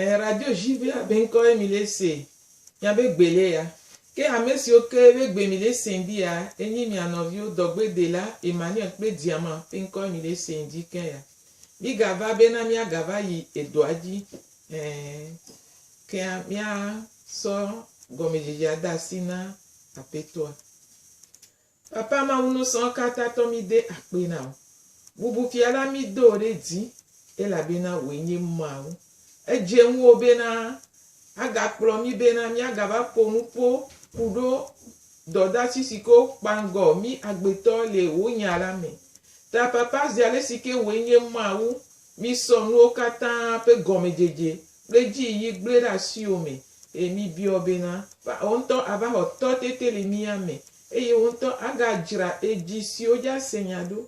Ɛɛ, Radio Juvea be ŋkɔe mi le se mia be gbe le ya. Ke ame siwo ke be gbe mi le se ŋdi ya e nyi mia nɔviwo dɔgbedela Emmanuel kple Diama be ŋkɔe mi le se ŋdi ke ya. Mi ga va be na mia ga va yi edɔa dzi. Ɛɛ, ke a mia sɔ gɔmedzedzea da asi na Apetoa. Papa Mawu nusɔ̃ katã tɔ mí de akpe na wò. Bubu fia la mí do wò ɖe dzi elabena wòe nye Mawu. Edze ŋuwò bena agakplɔ mí bena míagava ƒo nuƒo ku ɖo dɔdasi si ke wokpa ŋgɔ mí agbetɔ le wò nya la me. Ta papa zi ale si ke wòe nye Mawu mí sɔ nuwo katã ƒe gɔmedzedze kple dzi yiyi gblɔe ɖe asiwò me eye mí biɔ wò bena wò ŋutɔ ava xɔ tɔtete le mía me Eye wotɔ agadzra edzi siwo dza se nya ɖo,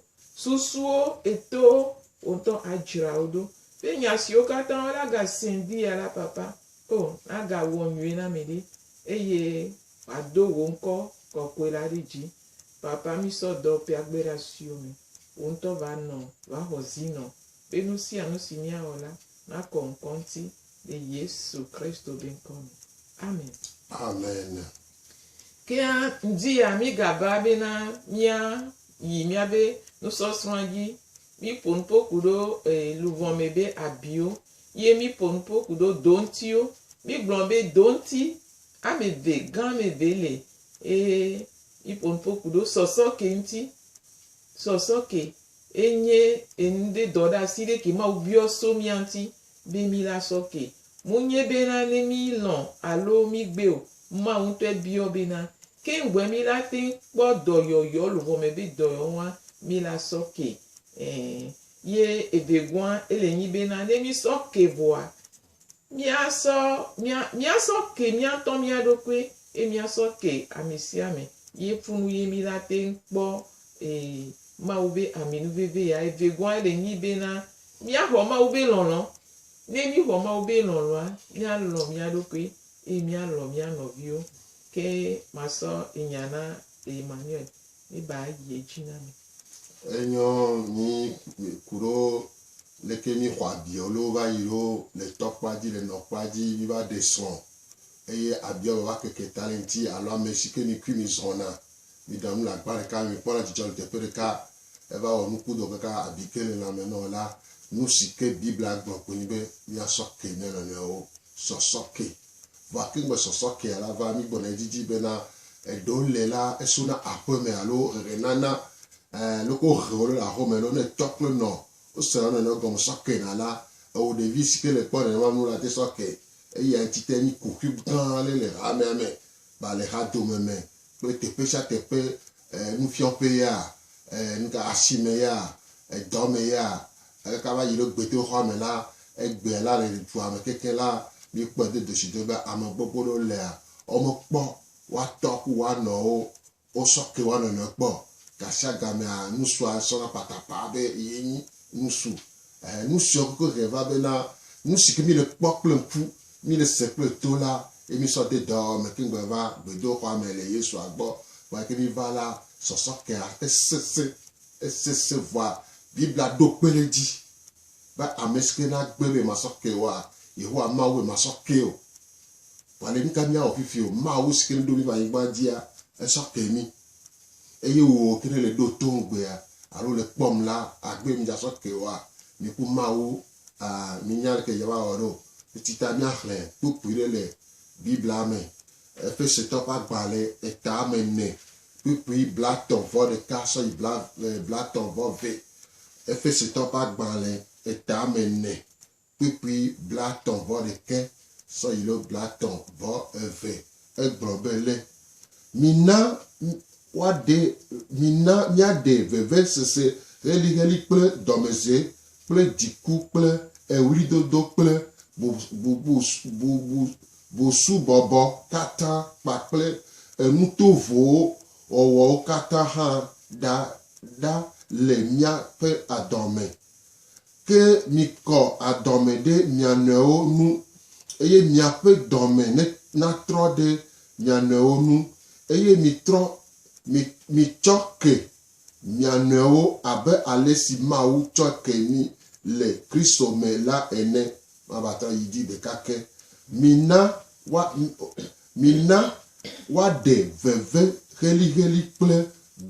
susuwo eto wotɔ adzra wo ɖo. Ɖe nya siwo katã wo la ga se ŋdi ya la papa o, na ga wɔ nyuie na mi ɖi, eye ma do wò ŋkɔ kɔkɔe la ɖi dzi. Papa mi sɔ dɔ pia gbe ɖa siwo me wò ŋutɔ va nɔ va xɔ zi nɔ, be nu sia nu si mia wɔ la, na kɔ ŋkɔ ŋuti Le Yesu Kristo be ŋkɔ me. Amen. Amen. Ke hã, ŋdi ya mígabaa bena míayi míabe nusɔsrɔ̃a dzi. Míƒo nu ƒo ku ɖo e, luʋɔ me be abiwo, ye míƒo nu ƒo ku ɖo doŋtiwo. Mígblɔ be doŋti ame eve gã ame eve le eye míƒo nu ƒo ku ɖo sɔsɔke ŋuti. Sɔsɔke enye enuɖe dɔɖeasi ɖe ke Mawu biɔ so mía ŋuti Be mí la sɔ ke. Monye bena ne mí lɔ̃ alo mí gbe o, Mawu ŋutɔe biɔ bena. Ke ŋgɔe mí la teŋ kpɔ dɔyɔyɔ luʋɔ me be dɔyɔyɔ ŋua mí la sɔ ke. Ɛɛ. Ye evegɔa ele nyi bena ne mí sɔ ke vɔa, mía sɔ, mía, mía sɔ ke mía ŋutɔ mía ɖokui ye mía sɔ ke amesiame ye funu ye mí la teŋ kpɔ, ee, Mawu be ami nu veve ya. Evegɔa ele nyi bena Míaxɔ Mawu be lɔlɔ̃. Ne míexɔ Mawu be lɔlɔ̃a, míalɔ̃ mía ɖokui eye míalɔ̃ mía nɔviwo. Ke masɔ enya na Emmanuel. Miba ayi edzi na mi. Enyɔ mí kuɖo leke míexɔ abiɔ loo va yi ɖo le tɔ kpa dzi, le nɔ kpa dzi, míva ɖe srɔ̃ eye abiɔ vava keke ta le ŋuti alo amesi ke mi kui mizɔna. Miɖa nu le agba ɖeka me, mikpɔna dzidzɔ le teƒe ɖeka Eva wɔ nuku do kaka abi ke le lãme nɔ la, nusi ke Biblia gblɔ koe nye be míasɔ ke mía nɔnɔewo. Sɔsɔ ke. Vɔa ke ŋgbe sɔsɔ kea la va, mígbɔna edzi dzi bena eɖewo le la, esona aƒeme alo ʋeʋẽnana, e, loko wohe wo le aƒeme lɔ, ne etsɔ kple nɔ wosena wo nɔnɔewo gɔme sɔ ke na la, ewò ɖevi si ke le kpɔ nenema nu la te sɔ ke. Eya ŋuti te mí kuxi gã ale le hamea me, balexadome me kple teƒe sia teƒe nufiɔƒee ya, nuka asime ya, edɔ me ya, aleke ava yi ɖo gbedoxɔa me la, egbea la le dua me kekeŋ la, míkpɔe do doshido be ame gbogbo ɖewo lea, womekpɔ woatɔ ku woanɔwo wosɔ ke woanɔnɔe kpɔ o. Gashiagamea, nusu asɔ na patapaa be ye nyi nusu Ɛɛ, nu sia ku ƒe ʋe va bena nu si ke míle kpɔ kple ŋku, míle se kple to la, ye mísɔ de dɔwɔwɔ me keŋ gbe va gbedoxɔa me le Yesua gbɔ. Vɔ eke míva la, sɔsɔ kea esesẽ, esesẽ vɔa Biblia ɖo kpe ɖe edzi be ame si ke nagbe be yemasɔ kee oa, Yehowa Mawu be masɔ kee o. Vɔ ale nuka míawɔ fifi o? Mawu si ke ɖo mí va anyigba dzia, esɔ ke mí. Eye wò ke ne le ɖo to ŋugbea, alo le kpɔm la, agbe mi dza sɔ ke oa? Mi ku Mawu a mi nya leke dza va wɔ ɖo. Eti ta mia xlẽ kpukpui ɖe le Biblia me. Efesetɔ ƒe agba le eta ame ene, kpukpui blatɔ̃ vɔ ɖeka sɔ yi blatɔ̃ vɔ ve. Efesetɔ ƒe agba le eta ame ene. kpukpui blatɔ̃ vɔ ɖekɛ sɔ yi lo blatɔ̃ vɔ eve. Egblɔ be lé. Mina woaɖe, mina míaɖe vevesese heliheli kple dɔmedzoe kple dziku kple eɣlidodo kple bubusubɔbɔ katã kpakple enu tovowo wɔwɔwo katã hã ɖa ɖa le míaƒe adɔa me. Ke mikɔ adɔme ɖe mia nɔewo nu, eye miaƒe dɔme ne, natrɔ ɖe mia nɔewo nu, eye mitrɔ, mi, mitsɔ ke mia nɔewo abe ale si Mawu tsɔ ke mi le Kristo me la ene. Mavatrɔ yi dzi ɖeka ke. Mina woa, mina woaɖe veve xelixeli kple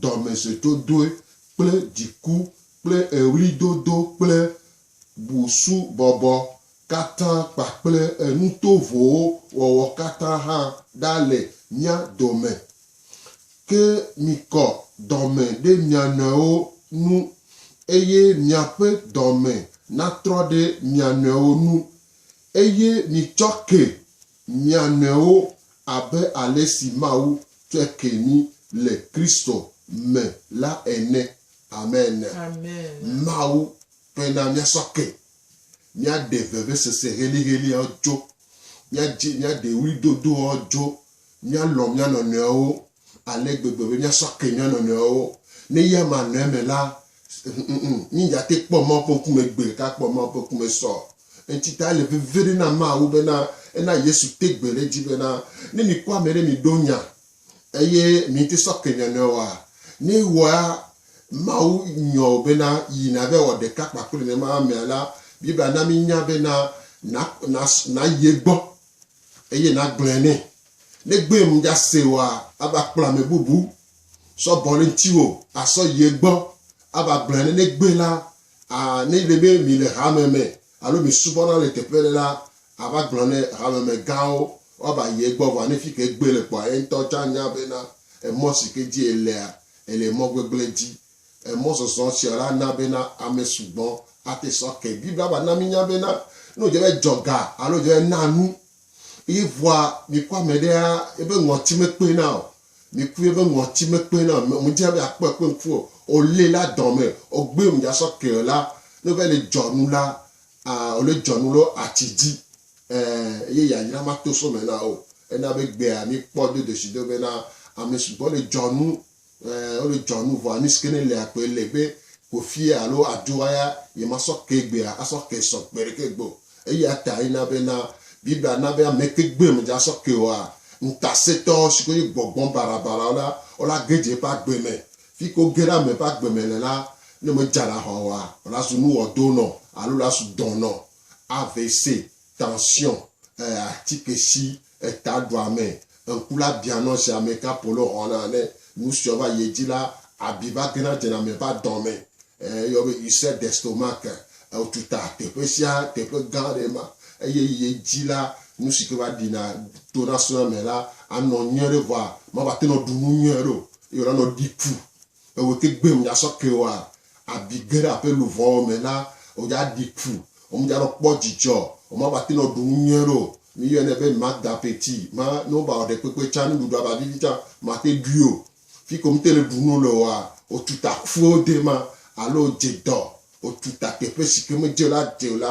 dɔmesetsodoe kple dziku kple eɣlidodo kple busubɔbɔ katã kpakple enu tovowo wɔwɔ katã hã ɖa le mía dome. Ke mikɔ dɔme ɖe mia nɔewo ŋu, eye miaƒe dɔme natrɔ ɖe mia nɔewo ŋu, eye mitsɔ ke mia nɔewo abe ale si Mawu tsɔe ke mi le Kristo me la ene. Amen. Mawu tɔe na mía sɔ ke. Mía ɖe vevesese heliheliawo dzo. Mía dzi, mía ɖe ɣli dodoawo dzo. Mía lɔ mía nɔnɔewo ale gbegbe be mía sɔ ke mía nɔnɔewo. Ne eya ma nɔ eme la, ŋŋŋ, mí dza te kpɔ Mawu ƒe ŋkume gbe ɖeka kpɔ Mawu ƒe ŋkume sɔ. Eŋti ta ele veviɖe na Mawu bena ena Yesu te gbe ɖe edzi bena, ne mi kpɔ ame ɖe mi ɖo nya Eye mìŋti sɔ ke nya nɛ oa? Ne ewɔa Mawu nyɔ o bena yi nave wɔ ɖeka kpakple nenema amea la, Biblia na mínya bena na, na, nayi egbɔ eye nagblɔe nɛ. Ne egbee mdjase oa, ava kplɔ ame bubu sɔ bɔ ɖe ŋtiwò asɔ yi egbɔ ava gblɔe nɛ. Ne egbee la, a, ne ele be mìle hame me alo mìsubɔna le teƒe ɖe la, ava gblɔ ne hamemegãwo woava yi egbɔ vɔ ne fike egbɔe le kpɔa, yeŋtɔ tsã nya bena emɔ si ke dzi elea, ele mɔ gbegblẽ dzi. Emɔzɔzɔ sia la na bena ame sugbɔ ate sɔ ke. Biblia va na mínya bena ne wòdze be dzɔ ga alo wòdze be na nu eye vɔa mìkpɔ ame ɖea, eƒe ŋɔti mekpena o, Mi ku ye be ŋɔti me kpe na me, mu dze be akpɔ ekpe ŋku o, o le la dɔ me, o gbe mu dza sɔ ke o la, ne o va yi le dzɔ nu la, a o le dzɔ nu lo atsi dzi, ɛ, eye yayra ma to so me na o. E na be gbea mi kpɔ do doshi do be na ame sugbɔ le dzɔ nu, ɛ, o le dzɔ nu vɔa nusike ne le agbe le be kofie alo aɖoa ya ye ma sɔ ke gbea a sɔ ke sɔ gbeɖeke gbe o. Eya tae na be na Biblia na be ame kpegbe me dza sɔ ke oa, ŋutasẽtɔ siwo nye gbɔgbɔ barabarawo la, wola ge dze eƒe agbe me. Fi ke woge ɖe ame ƒe agbe me le la, ne medza na aʋa oa, wola zu nu wɔdo nɔ alo la su dɔ nɔ avc, tension, e, atike si Eta ɖo ame ŋku la bia nɔ zi amɛ ka polo hɔna ne nu siɔ va yi edzi la abi va gena dzena mɛ va dɔmɛ. Eyɔ be il sait d'estomac que eo tuta teƒe sia teƒe gã ɖe ma eye yi edzi la nu sike va ɖina to na suna mɛ la anɔ nyuiɖe vɔa ma va tenɔ ɖu nu nyuiɖe o eye wòla nɔ ɖi ku Ewò tegbee mdza sɔ ke oa abi ge ɖe aƒe luvɔwo me la, wodza ɖi ƒu, womdza nɔ kpɔ djidjɔ, woma va te nɔ ɖu ŋunyɔe ɖo. Mi yɔnɛ be Magda ƒe ti ma, ne wo va wɔ ɖekpekpe tsa, nuɖuɖu ava vivi tsa, mate ɖui o. Fiko mte le ɖu nu le oa, wo tu ta ƒuwo de ma, alo wo dje dɔ, wo tu ta teƒe sike me dje la de o la,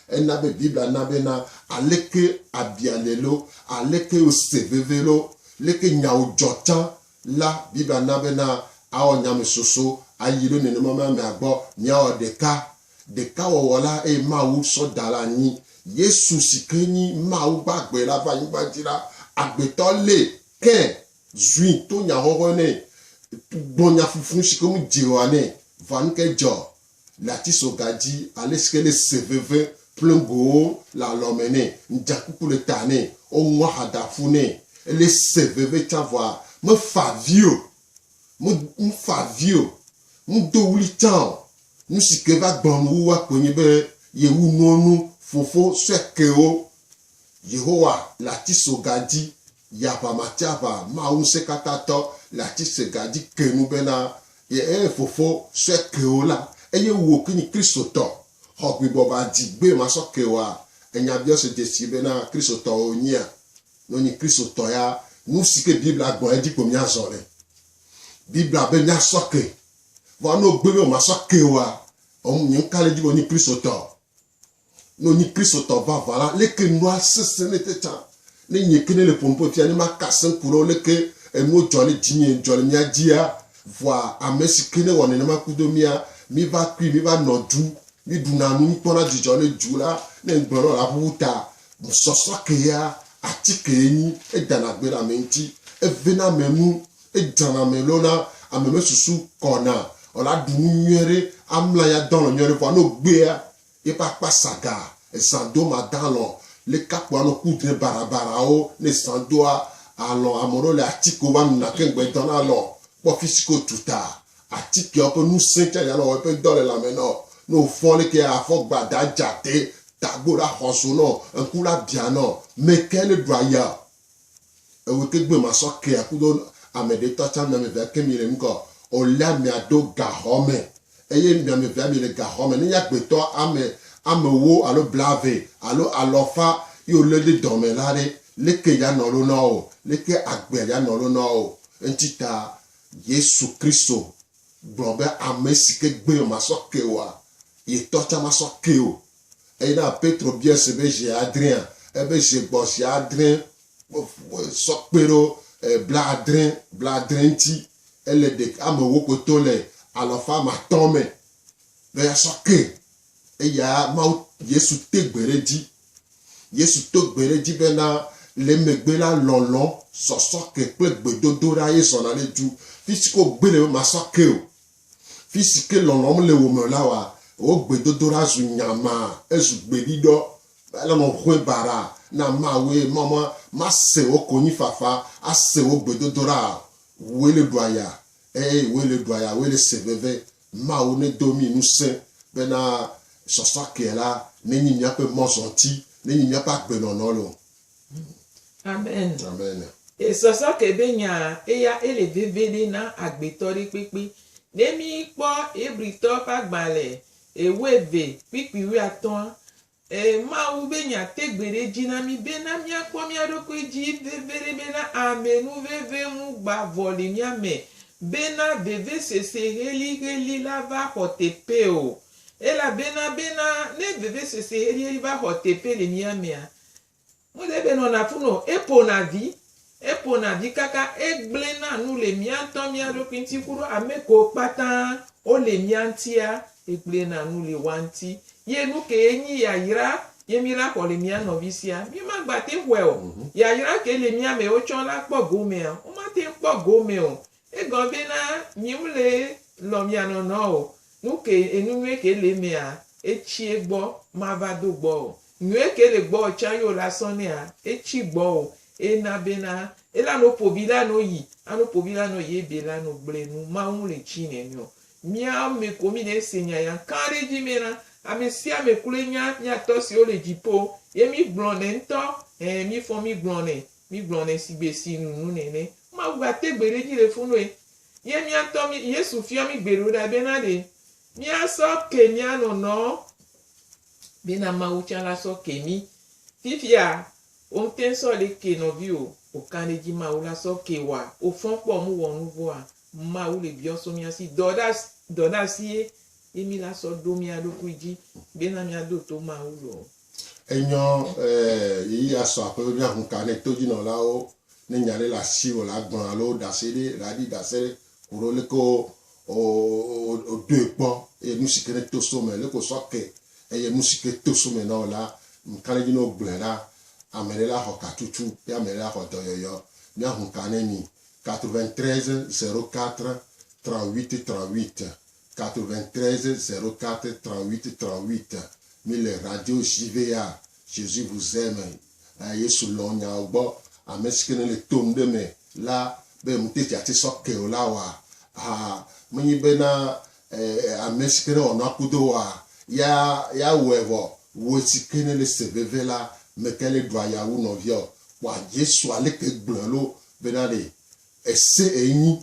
ena be Biblia na be na aleke abia le lo, aleke wo se veve lo, leke nyawo djɔ tsa, La, Biblia na bena awɔ nyamɛsoso ayi ɖo nenema me amea gbɔ, miawɔ ɖeka. Ɖeka wɔwɔ la eye Mawu sɔ da ɖe anyi. Yesu si ke nyi Mawu gbagbe la va anyigba dzi la, agbetɔ lée ke zui to nyahɔhɔe nɛ, gbɔ nyafufu si ke ŋu dze o anɛ. Vanu ke dzɔ? Natiso ga dzi alesike ne se veve ploŋgowo le alɔme nɛ, ŋdzakuku le ta nɛ, woŋu aha da ƒu nɛ, ele se veve tsã vɔa, mefa avi o, me, mefa avi o, medo ɣli tsã o. Nusike va gblɔm wua koe nye be yewu nuwo nu fofo sue kewo. Yehowa le atiso ga dzi Yaʋamatiaʋa Mawu Ŋusẽkatãtɔ le atisega dzi ke nu bena, Ye eye Fofo sɔe ke wo la, eye wò ki nyi Kristotɔ, xɔ gbibɔba dzi gbee masɔ ke woa? Enya biɔse dzesii bena Kristotɔwo nyia? Ne wonyi Kristotɔ ya, nusi ke Biblia gblɔ edzi ko míazɔ nɛ. Biblia be míasɔ ke. Vɔ ne wogbe be womasɔ ke woa, ɔm, nye ŋka le edzi be wonyi Kristotɔ. No nyi Kristotɔ vavã la, leke nua sese ne te tsã? Ne nye ke ne le ƒom ƒe fia ne ma ka se ku ɖe wo leke enuwo dzɔ le dzinye dzɔ le mia dzia? Vɔa ame si ke ne wɔ nenema kudo mia, mi va kui, mi va nɔ du, mi ɖu na nu, mi kpɔ na dzidzɔ le du la, ne ŋgbe nɔ la ƒuƒu ta. Sɔsɔ ke ya, ati ke ye nyi, edana gbe ɖe ame ŋuti, eve na ame nu, Edzana me loo na ame me susu kɔna o la ɖu nu nyuie ɖe amla ya dɔn lɔ nyuie ɖe vɔa no gbea ye ƒe akpa saga ezã do ma dan lɔ le kapo anɔ ku dre bara bara wo ne zã doa alɔ ame ɖewo le atike wo va nuna keŋ gbe dɔn na lɔ kpɔ fisi ke wo tu ta atikea woƒe nusẽ tsa ya lɔ wɔ eƒe dɔ le lãme nɔ ne wo fɔ leke ya afɔ gbada dza te tagbo ɖa xɔ zo nɔ ŋku la bia nɔ meke ne ɖua ya Ewo te gbe ma sɔ kea kudo ame ɖe tɔ can miame vea ke mi le nukɔ o lea mia ɖo gaxɔ me eye miame vea mi le gaxɔ me nenye agbe tɔ ame ame wo alo blave alo alɔ fa yi o le ɖe dɔ me la ɖe leke ya nɔ lo na o leke agbea ya nɔ lo na o eŋti ta yesu kristo gblɔ be ame si ke gbe ma sɔ ke oa ye tɔ can ma sɔ ke o. Eyi na Petro biae se be zi adrea, ebe zi gbɔ zi adre sɔ kpe ɖo blaadre, blaadre ŋti, ele ɖe amewo kpɔtɔ le alɔfa matɔ̃ me be asɔ ke. Eya Mawu, Yesu te gbe ɖe dzi. Yesu to gbe ɖe dzi be na le megbe la lɔlɔ, sɔsɔ ke kple gbedodoɖa ye zɔna ɖe du. Fitsike wogbe ɖe be masɔ ke o, Fi si ke lɔlɔ̃m le wò me la wɔa wò gbedodoɖa zu nyama, ezu gbeɖiɖɔ. Ele nɔƒe baɖa na Mawue, Mawu mase wò konyifafa, ase wò gbedodoɖa o. Wòe le ɖua ya, ẽ, wòe le ɖua ya, wòe le se veve. Mawu nedo mí ŋusẽ bena sɔsɔa ke la nenyi míaƒe mɔzɔti, nenyi míaƒe agbenɔnɔ loo. Amen. Amen. E sɔsɔ ke be nya eya ele veviɖe na agbetɔ ɖe kpekpe. Ne mí kpɔ Hebritɔ ƒe agbalẽ ewo eve kpikpi wuiatɔ̃a, e Mawu be nya te gbe ɖe edzi na mí be na mía kpɔ mía ɖokui dzi veviɖe be na ame nu veve ŋu gba vɔ le mía me be na vevesese heliheli la va xɔ teƒe o. Elabena be na ne vevesese heliheli va xɔ teƒe le mía mea, Mose be nɔna fu no eƒona vi eƒona vi kaka egblẽ na nu le mía ŋutɔ mía ɖokui ŋuti ku ɖo ame kewo kpata wo le mía ŋutia egblẽ na nu le woa ŋuti ye nu kee nyi yayra ye mí la xɔ le mía nɔvi sia mí ma gba te ŋu xɔe o yayra ke le mía me wo tsɔ la kpɔ gomea wo ma te ŋu kpɔ gome o Egɔ bé na mi ŋlé lɔ mia nɔ nɔ o, nu ke enu nyué ke lé méa, étsié gbɔ ma va do gbɔ o. Nyué ke lé gbɔ o tsan yo la sɔ néa, étsi gbɔ o. É na bé na é la no pobi la no yi, a no pobi la nɔ yé bé la no gblé nu Mawu ŋlé tsi nɛ miɔ. Mia mé ko mi nɛ sé nya ya kan ɖé dji mé na amé sia amé klui nya mia tɔ siwo lé djipo yé mi gblɔ nɛ ŋtɔ, ɛɛ mi fɔ mi gblɔ nɛ Mi gblɔ nɛ sigbe si nu nu nɛ nɛ. Mawu gba te gbe ɖe dzi le funu e. Ye mia ŋtɔ mi Yesu fiɔ mi gbe ɖo ɖa be na ɖe mia sɔ ke mia nɔnɔ be na Mawu tsa la sɔ ke mi. Fifia wo ŋtɛn sɔ ɖe ke nɔvi o. O kan ɖe dzi Mawu la sɔ ke wa o fɔn kpɔ mu wɔ nu vɔa Mawu le biɔ so mia si dɔ ɖa dɔ ɖa si ye ye mi la sɔ ɖo mia ɖokui dzi be na mia do to Mawu lɔ. Enyɔ e yi asɔ aƒe ɖe ŋu ka ne todzinɔlawo ne nya ɖe le asi o la gblɔ alo ɖase ɖe la ɖi ɖase ɖe ko ɖo le ko o o doe kpɔ e nu si ke ne to so me le ko sɔ ke eye nu si ke to so me na o la ŋka ɖe dzi no gblɔe la ame ɖe la xɔ ka tutu ya ame ɖe la xɔ dɔyɔyɔ mia ŋu ka ne mi 93 04 38 38 93 04 38 38 Mi le radio JV ya Jesus vous aime eh, Yesu lɔn nyawo gbɔ Ame si ke ne le tom ɖe me la Be ŋuteti ati sɔ ke o la wa ha Menyi be na eh, ame si ke ne wɔnɔ akudo wa Ya ya wɔe vɔ Wò si ke ne le se veve la Me ke le ɖua ya wu nɔvia o Kpɔa Jesu aleke gblɔe lo Be na ɖe ese enyi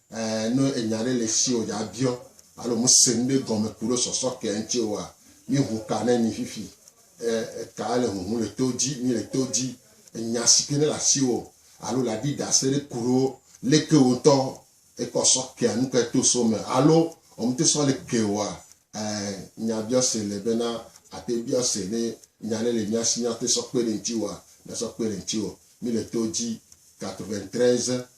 Eh, no enya ɖe le si o dza biɔ, alo mu se nu ɖe gɔme ku ɖo sɔsɔ kɛ ŋtsi oa, mi hu ka ne mi fifi. Eh, ka le huhu le to dzi, mi le to dzi. Enya si ke ne le asi o, alo le adi da se ɖe ku ɖo le ke wo ŋtɔ ekɔ sɔ kɛ nu ke to so me, alo o mte sɔ le kɛ oa, eh, nya biɔ se le be na ate biɔ se ne enya ɖe le mia si mia te sɔ kpe ɖe ŋtsi oa, mia sɔ kpe ɖe ŋtsi o. Mi le to dzi. 93.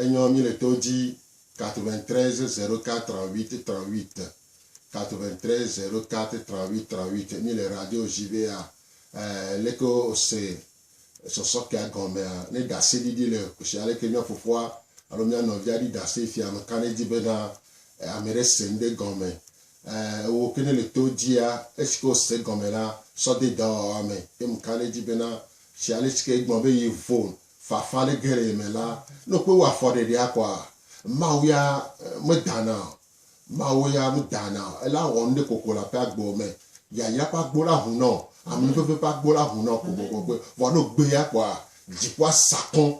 Enyɔ mi le to dzi 93 04 38 38 93 04 38 38 mi le radio jibea eh leke o se sɔsɔkea gɔmea ne dase ɖiɖi le kushia leke mia fofoa alo mia nɔvia ɖi dase fia me ka ne di be na eh, ame ɖe se ŋɖe gɔme eh ewo ke ne le to dzia esi ke o se gɔme la sɔ de dɔwɔwa me ye me ka ne di be na shia le si ke gbɔ be yi vone Fafa ɖe ge le ye me la, ne wokpe wò afɔɖeɖea kɔa, Mawu ya medana o. Mawu ya medana o. Ela wɔ nuɖe koko le aƒea gbewo me. Yayra ƒe agbo la hunɔ o. Amenuveve ƒe agbo la hunɔ kpokpokpokpoe. Vɔ ne wogbe ya kɔa, dziƒoa sa kɔ̃.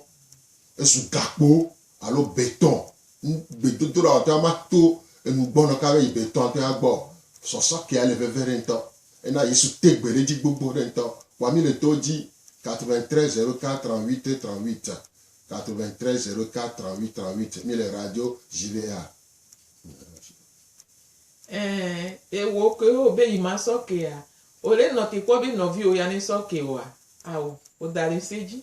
Ezu gakpo alo betɔ̃ Ŋ gbedodoɖa ɔtɔa ma to enu gbɔnɔ ka be yi be tɔa ŋtɔe agbɔ o. Sɔsɔ kea le veve ɖe ŋtɔ. Ena Yesu te gbe ɖe dzi gbogbo ɖe ŋtɔ. Kpɔa mí le to dzi 93 04 38 38, 93 04 38 38, mí le radio JVA. Ɛɛ, ewɔ kewo be yi ma sɔ kea? Ole nɔ te kpɔ be nɔviwo ya ne sɔ ke oa? Ao, o da le se dzi.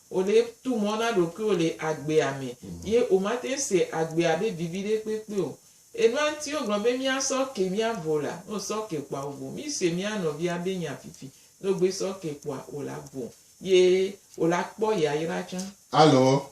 Wò le tu mɔ na ɖokuiwò le agbea me, ye wò ma teŋ se agbea be vivi ɖe kpekpe o. Enua ŋti wo gblɔ be mía sɔ ke mía vo la, no sɔ ke kpɔa wo vo. Mí se mía nɔvia be nya fifi, no gbe sɔ ke kpɔa wo la vo, ye wo la kpɔ yayra tsã. Alo,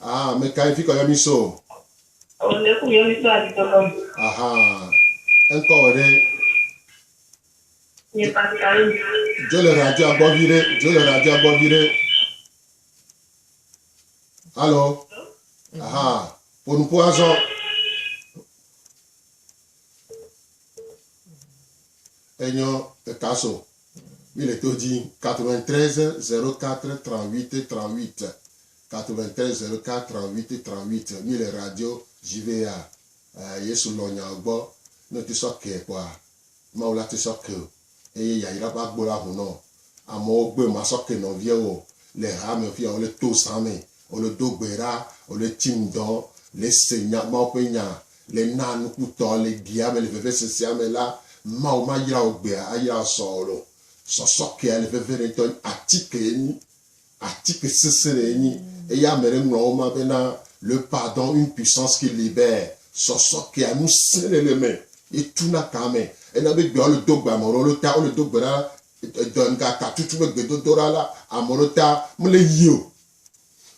Ah, me kai fi kɔ yɔ mi so. O ne ku yɔ mi so adi tɔtɔ. Aha, enkɔ wɔ ɖe. Nye Pascal. Jo le radio agbɔ vi ɖe, jo le radio agbɔ vi ɖe. Alo, aha, ponupo azɔ. Enyo eka so. Mi le to dzi 93 04 38 38 93 04 38 38 Mi le radio JVA ɛɛ Yesu lɔn nyawo gbɔ Ne ŋti sɔ kee kpɔa Mawu la ti sɔ keo Eye yayra ƒe agbo la ŋu nɔo Amewo gbe ma sɔ ke nɔviɛwo Le ha me fia wole to zã me Wole do gbe ɖa Wole tsi ŋdɔ Le se nya Mawu ƒe nya Le na nukutɔ le dia me le vevesesea me la, Mawu mayra wò gbea ayra wò sɔɔl o. Sɔsɔ kea le veve ɖe ŋtɔ nyi atike enyi. Atike sese ɖe enyi. Eya ame ɖe ŋlɔ wo ma be na le pardon une puissance qui libère. Sɔsɔ kea nu sẽ ɖe le me ye tu na ka me. Ena be gbea wole do gbe ame ɖewo le ta wole do gbe ɖa edɔ ŋga ka tutu be gbedodoɖa la ame ɖewo ta mele yio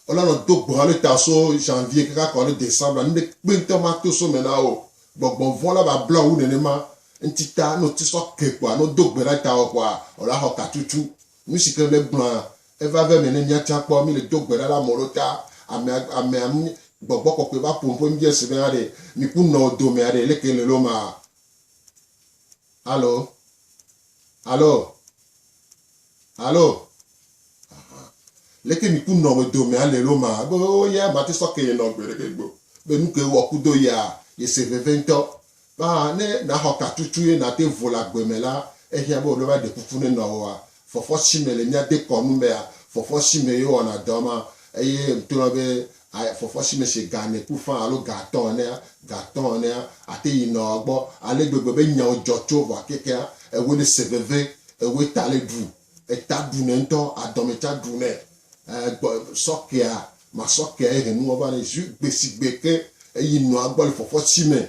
Wona nɔ do gbɔn ale ta so janvier kaka kɔ ale decembre la, nuɖe kpe ŋutɔ ma to so me na wo. Gbɔgbɔn vɔn la va bla wu nenema. Ŋti ta, no ti sɔ ke kpoa, no do gbe ɖa ta wɔ kpoa, ɔ la xɔ katutu. Nusi ke le gblɔa, e va ve me ne mia can kpɔ, mi le do gbe ɖa le amewo ɖo ta. Amea, amea mi, gbɔgbɔ kɔkɔe va po nuƒo mibia se be a ɖe mi ku nɔ wo dome a ɖe leke le lo ma. Alo? Alo? Alo, Ahan, leke mi ku nɔ me do mea le lo ma? Ebe, Oo ya, ma te sɔ ke ye nɔ gbe ɖeke gbe o. Be nu ke wɔ ku do ya, ye se veve ŋtɔ. Ba, ne na xɔ ka tutu ye na te vo le agbe me la, ehiã be wo ɖo va ɖe kuku ne nɔ woa. Fɔfɔ si me le mia de kɔ nu bea, fɔfɔ si me ye wo wɔna dɔ ma. Eye ŋtolɔ be, A Fɔfɔ si me se ga nɛ ku faa alo ga atɔ̃ enea, ga atɔ̃ enea, ate yi nɔa gbɔ ale gbegbe be nyawo dzɔ tso vɔ akekea ewoe ne se veve, ewoe ta le ɖu, eta ɖu nɛ ŋutɔ, adɔme tsa ɖu nɛ. E gbɔ sɔ kea, masɔ kea ehe nuwɔ va nɛ zu gbe si gbe ke eyi nɔa gbɔ le fɔfɔ si me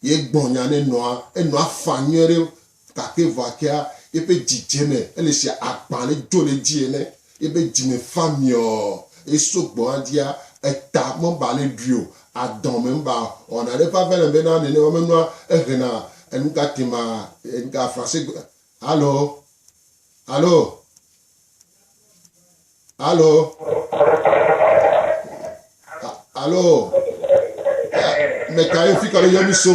ye gbɔ nya ne nɔa, enɔa faa nyuiɖe Gake vɔakea, eƒe dzi dze eme, ele sia agbã aɖe dzo le edzi ene. Eƒe dzi me fã miɔɔ. Eso gbɔ hadia, eta meba ale ɖui o, adɔn me meba o. Wɔna aɖe ƒe ave le be na nenema menɔa, ehena enugatema, enuga français gbe. Alo? Alo? Alo? Alo? Meka ye fi kalo yɔmi so?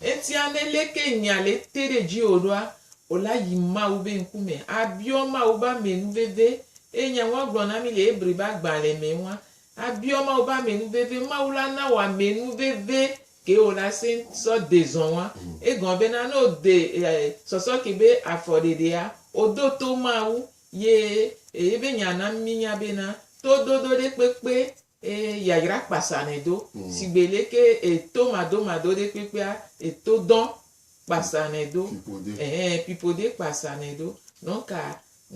Etia ne leke nya le te ɖe dziwò ɖoa, wò la yi Mawu be ŋkume, abiɔ Mawu be ame nu veve, eye nya ŋua gblɔ na mi le Hebri be agbalẽ me ŋua, abiɔ Mawu be ame nu veve, Mawu la na wò ame nu veve ke wò la sẽŋ sɔ de zɔn ŋua. Egɔme bena ne wò de sɔsɔ ke be afɔ ɖeɖea, wò do to Mawu, ye eye be nya na mi nya bena, tododo ɖe kpekpe Eye yayra kpasanɛ do, sigbe leke e to madomado ɖe kpekpea e to dɔn kpasanɛ do. Ehe, pipo ɖe kpasanɛ do. Nɔnka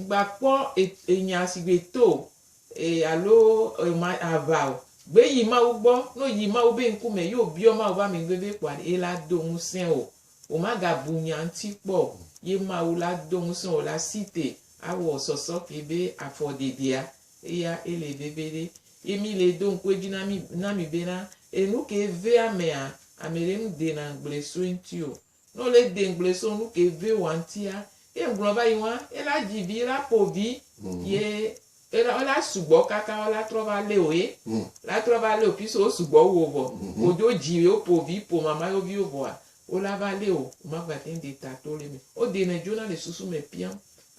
ŋgba kpɔ e enya sigbe to o, e alo e ma ava o. Gbe yi Mawu gbɔ, no yi Mawu be ŋkume yi o biɔ Mawu be amɛgbe be kpɔa ɖe ela do ŋusẽ o. O ma ga bu nya ŋuti kpɔ o. Ye Mawu la do ŋusẽ o la si te awɔ sɔsɔ ke be afɔ ɖeɖea Eya e le veve ɖe. Ye mi le do ŋku edzi na mi na mi be na enu ke ve amea, ame ɖe nu de na ŋgble so eŋti o. Ne wo le de ŋgble so nu ke ve woa ŋtia, ye ŋgblɔ va yi ŋua, e la dzi vi, e la po vi, ye e la e la sugbɔ kaka wo la trɔ va le wo ye la trɔ va le wo piso wo sugbɔ wu wo vɔ. Wo dzo dzi ye wo po vi po mama yewo viwo vɔa, wo la va le wo, wo ma gba te ŋu de ta to le eme. Wo de na edzona le susu me pian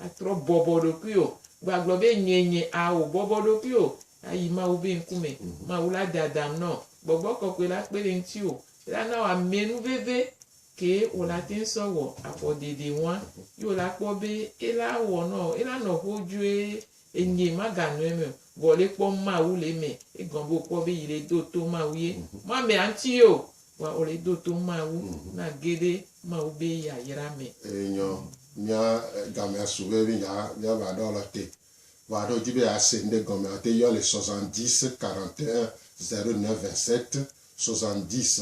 Atrɔ bɔbɔ ɖokui o, vɔ agblɔ be, Nyee nye, ao, bɔbɔ ɖokui o, ayi Mawu be ŋkume. Mawu la dadam nɔ. Gbɔgbɔ kɔkɔe la kpe ɖe ŋutiwò. Ela na wò amɛnuveve kee wò la teŋ sɔ wɔ afɔdedeŋua. Yi wò la kpɔ be ela wɔ nɔ, ela nɔ xodzoe Enyee maganɔ eme o. Vɔ le kpɔ Mawu le eme egɔme be wokpɔ be yi le do to Mawu ye. Mɔ ame aŋti ye o, vɔa wole do to Mawu na ge ɖe Mawu be yayra me. Eyi nyɔ mía gamea su be mí dza mía va ɖɔ lɔ te. Vɔa ɖo dzi be a se ŋɖe gɔme a te yɔ le soixante dix, quarante et un, zero neuf, vingt sept, soixante dix.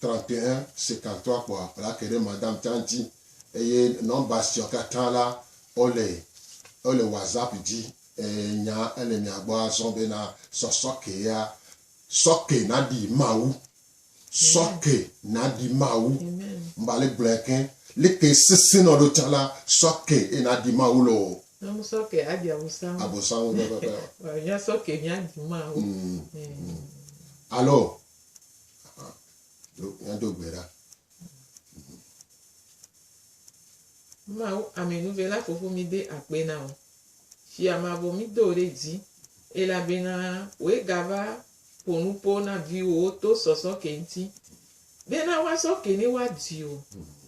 Trɔ̃tɔe si katã kpɔa plake ɖe Madame Tang dzi eye nɔmba siawo katã la, wole wole WhatsApp dzi. Eye nya ele mia gbɔ azɔ bena sɔ sɔkea, sɔke naɖi Mawu, sɔke naɖi Mawu. Amen. Mba le gblɔɛ keŋ. Like sesẽ nɔ ɖo tsã la, sɔke ye naɖi Mawu lɔ o. Ne mu sɔke aɖi abosam. Abosam pɛpɛpɛ. Vɔ mia sɔke mia ɖi Mawu. Mm. Alo Míado gbe ɖa. Mawu amenuve la fofo mi de akpe na o. Fia mavɔ mi do ɖe dzi. Elabena wòe gava ƒo nuƒo na viwòwo to sɔsɔ ke ŋuti. Bena woasɔ ke ne woadui o.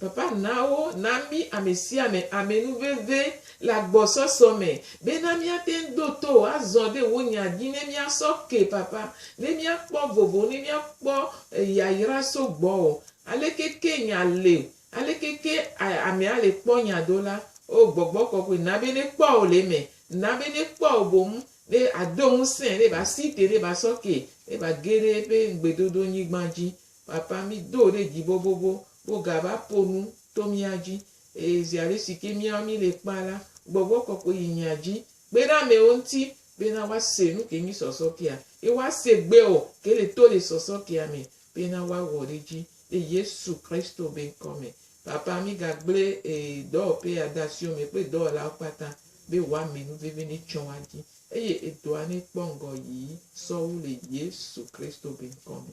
Papa na wo, na mí ame sia ame ame nu veve le agbɔsɔsɔ me, bena míate ŋu do to wò azɔ ɖe wò nya dzi ne míasɔ ke, Papa, ne míakpɔ vovo, ne míakpɔ yayra so gbɔwò. Aleke ke nya le? Aleke ke ame ale kpɔ nya do la? O Gbɔgbɔ Kɔkɔe, na be ne kpɔ wò le eme, na be ne kpɔ wò boŋ, ne ado ŋusẽ, ne ba si te, ne ba sɔ ke, ne ba ge ɖe eƒe ŋugbedodo nyigba dzi. Papa, mí do wò ɖe dzi bobobo, Wogava ƒo nu to mía dzi, eye ziaɣi si ke míawo míele kpea la, gbɔgbɔ kɔkɔe yi mía dzi. Kpe ɖe amewo ŋuti bena woase nu ke mí sɔsɔ kea, ye woase gbe ɔ ke le to le sɔsɔ kea me, bena woawɔ ɖe edzi le Yesu Kristo be ŋkɔ me. Papa, mí ga gble e dɔwɔƒe ya de asiwò me kple dɔwɔlawo kpata be wòa me nu veve ne tsɔ wa dzi, eye edɔa ne kpɔ ŋgɔ yii sɔwu le Yesu Kristo be ŋkɔ me.